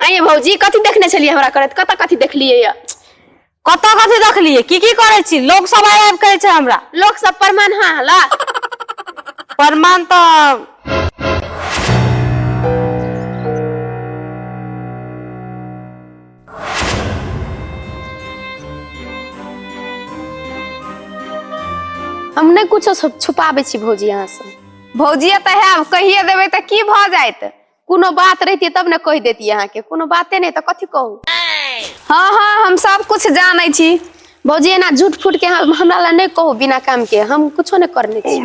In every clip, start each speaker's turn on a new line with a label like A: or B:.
A: आंय यै भौजी कथी देखने छलियै हमरा करैत कतऽ कथी देखलियै यऽ कतऽ कथी देखलियै की की करै छी लोक सब आबि आबि कहै छै हमरा लोक सब प्रमाण हाँ हला प्रमाण तऽ हम नहि कुछो छुप- छुपाबै छी भौजी अहाँसँ भौजिया तऽ हैब कहिए देबै तऽ की भऽ जायत कोनो बात रहितियै तब ने कहि देतियै अहाँके कोनो बाते नहि तऽ कथी कहू हँ हँ हम सब कुछ जानै छी भौजी एना झूठ फूट के हम- हमरा लए नहि कहू बिना काम के हम कुछो नहि करने छी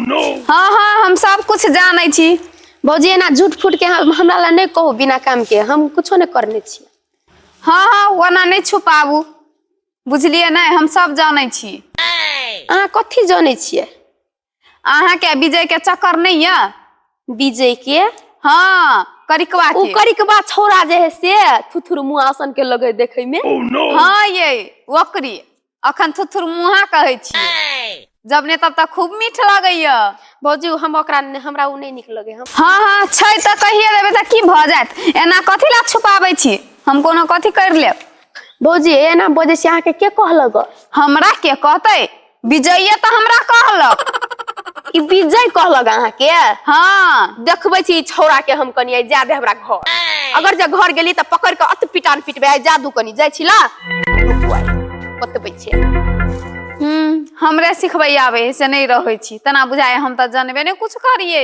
A: हँ हँ हम सब कुछ जानै छी भौजी एना झूठ फूट के हम- हमरा लए नहि कहू बिना काम के हम कुछो नहि करने छी हँ हँ ओना नहि छुपाबू बुझलियै नहि हम सब जानै छी अहाँ कथी जानै छियै अहाँके विजय के चक्कर नहीं है विजय के हाँ करिकवा के करिकवा छोरा जे है से थुथुर मुआसन के लगे देखे में oh, no. हाँ ये वक्री अखन थुथुर मुहा कहे छी जब ने तब तक खूब मीठ लगे ये भौजी हम ओकरा हमरा उ नहीं निक लगे हम हाँ हाँ छै त कहिए देबे त की भ जात एना कथि ला छुपाबे छी हम कोनो कथि कर लेब भौजी एना बजे से अहाँ के के कहलग हमरा के कहते विजये तऽ हमरा कहलक ई विजय कहलक अहाँके हाँ देखबै छी ई छौड़ा के हम कनिया जा दे हमरा घर अगर जे घर गेली तऽ पकड़ के अत पिटान पिटबे आइ जादू कनी जाइ छी ला रुकु आइ, बतबै छी हम्म, हमरा सिखबै आवे है से नहीं रहे छी तना बुझाए हम तो जानबे नहीं कुछ करिए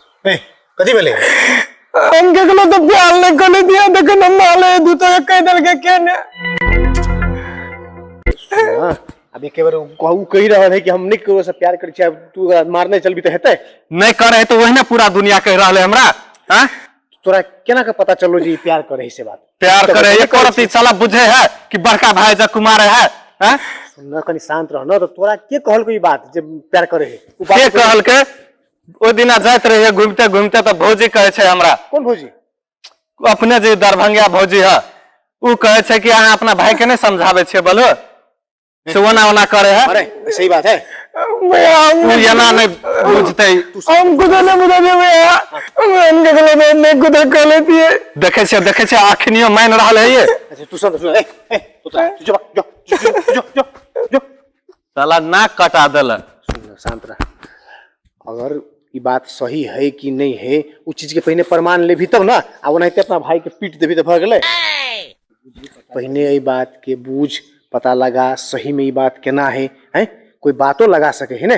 A: ए कथी भेलै हम कखनो तऽ प्यार नहि कने दिया देखन हम माले दू तऽ कह देलकै के ने हाँ, अब एक बार कहू कहि रहल है कि हम नहीं ककरो से प्यार करै छी आब तू ओकरा मारने चलबी तऽ हेतै नहीं कर रहे तो वही ना पूरा दुनिया कह रहा है हमरा हाँ? तोरा केना के पता चललो जे ई प्यार करै है से बात प्यार तो करे बता एक औरत ई साला बुझे है कि बड़का भाई जब कुमार है हाँ? सुन न कनी शांत रह न तऽ तोरा के कहलको ई बात जे प्यार करै है उ के बात कहल के ओहि दिना जाइत रहिए घूमते घूमते तऽ भौजी कहै छै हमरा कोन भौजी अपने जे दरभंगिया भौजी है ओ कहै छै कि अहाँ अपना भाई के नहीं समझाबे छे बोलो से ओना ओना करे है अरे सही बात है ओ एना नहीं बुझते हम कुछ नहीं बुझा दे भैया हम इनके गले में नहीं कुछ कर लेती है देखे छे देखे छे अखनियो मान रहा है ये अच्छा तू सुन तू सुन ए ए तू जा तू जा जा जा जा जा साला नाक कटा देलक सुन न, शांत रह अगर ई बात सही है कि नहीं है उ चीज के पहले प्रमाण लेभी तब ना आ ओनाहिते अपना भाई के पीट देभी तो भर गेलै पहले एहि बात के बूझ पता लगा सही में ई बात केना है हैं कोई बातो लगा सके है ने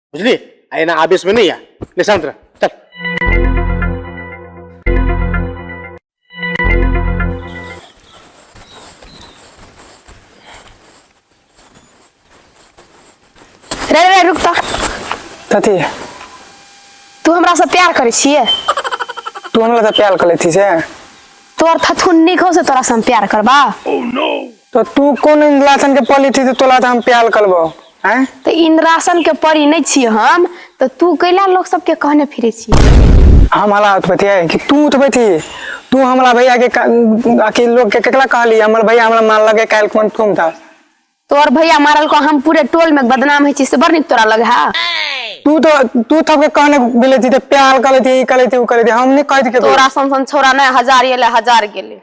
A: बुझली आ एना आवेश में नहीं आ ले शांत रह चल रे रे रुक तो कथी तू हमरा से प्यार करे छिए तू हमरा से प्यार कर लेती से तोर थथुन निक हो से तोरा से हम प्यार करबा तो तू कौन लाथन के पली थी तो तोला तो हम प्यार करबो आँय तऽ इन्द्रासन के परी नहि छियै हम तऽ तू कैला लोक सबके कहने फिरै छी हम हला उठबैतियै कि तू उठबैती तू हमरा भैया के क- अथी लोग के केकरा कहली हमर भैया हमरा मारलकै काल्हि कोन ठुम था तोहर भैया मारल को हम पूरे टोल में बदनाम होइ छी से बड़ नीक तोरा लग है तू तो तू सबके कहने मिले थी तो प्यार करे थी ई करे थी उ करे थी हम नहीं कहती के तोरा सन सन छोरा नहीं हजार एले हजार गेले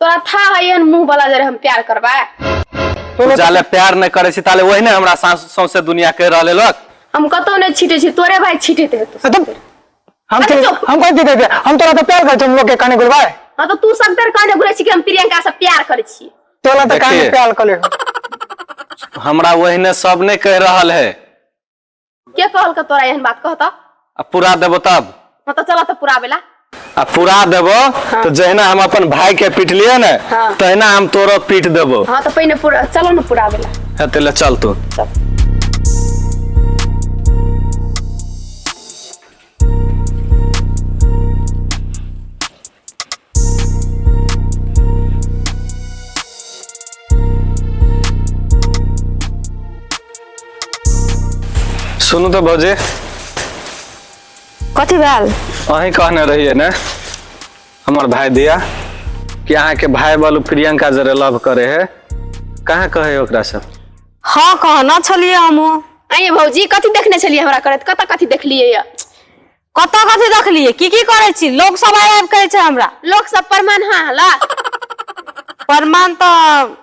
A: तोरा था है एहन मुंह वाला जे हम प्यार करबा तू जाले प्यार नहीं करे छी ताले वही ने हमरा सास सौसे दुनिया कह रहले लोग हम कतो नहीं छीटे छी तोरे भाई छीटे ते तो एकदम हम अरे के चुप। हम कोई दीदी हम तोरा तो प्यार करते हम लोग के काने गुलबा हां तो तू सब तर काने घुरे छी कि हम प्रियंका से प्यार करे छी तोरा तो काने देखिए। प्यार कर ले हमरा वही ने सब नहीं कह रहल है के कहलक तोरा एहन बात कहता आ पूरा देबो तब हाँ तो चला तो पूरा बेला आ पूरा देबो तो जहिना हम अपन भाई के पीटलिए ने हाँ। तहिना हम तोरो पीट देबो हाँ तो पहिने पूरा चलो ना पूरा बेला है तेले चल तू चल सुनू तो भौजी कथी भेल अहीं कहने रहिए ने हमर भाई दिया कि अहाँ के भाई बालू प्रियंका जरे लव करे है कहाँ कहे ओकरा से हाँ कहना छलिए हमहूँ आंय यै भौजी कथी देखने छलियै हमरा करैत कतऽ कथी देखलियै यऽ कतऽ कथी देखलियै की की करै छी लोक सब आबि आबि कहै छै हमरा लोक सब प्रमाण हाँ हला प्रमाण तऽ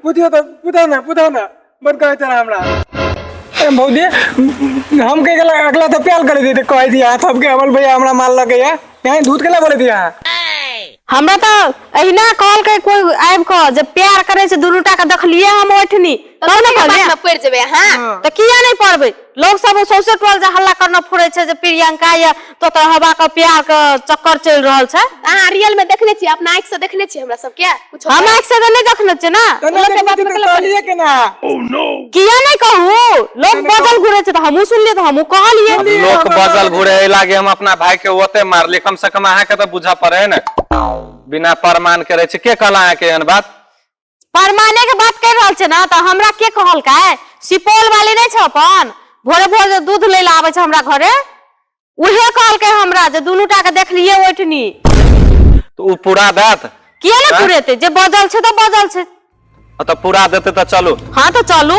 A: बुधियो तऽ बुधा ना बुधा ना बड़ कहै छला हमरा अरे भौजी हम कह गेला अगला तो प्यार कर दी कह दी हाथ हमके अमल भैया हमरा माल लगे है यहाँ झूठ केला बोले दिया हमरा तऽ अहिना कहलकै कोइ आबि कऽ जे प्यार करै छै दुनू टा के देखलियै हम ओठनी तब तब ने ने कहलियै। बात पड़ जेबे अहाँ हाँ। तऽ किया नहि पढ़बै लोग सब सौंसे टोल जे हल्ला करना फुरै छै जे प्रियंका या तो तोरा हवा के प्यार के चक्कर चलि रहल छै अहाँ रियल में देखने छियै अपना आँखि से देखने छियै हमरा सब क्या कुछ हम आँखि से तऽ नहि देखने छियै ने कना लोकके के बात बात में गलत कहलिए के ना किया नहि कहू लोग बदल घुरे छै तऽ हमहूँ सुनलियै तऽ हमहूँ कहलियै अब लोक बजल घुरे लागे हम अपना भाई के ओते मारली कम से कम अहाँ के तो बुझा पड़े है ने बिना प्रमाण करे छै के कहला अहाँ के एहन बात परमाने के बात कर रहल छै ने तऽ हमरा के कहलकै सुपौल वाली नहि छै अपन भोरे भोर जे दूध लै लए आबै छै हमरा घरे उहे कहलकै हमरा जे दुनू टा के देखलियै ओठनी तऽ ओ पूरा देत किया ने आँय? पुरेतै जे बजल छै तऽ बजल छै आ तऽ पूरा देतै तऽ चलू हँ तऽ चलू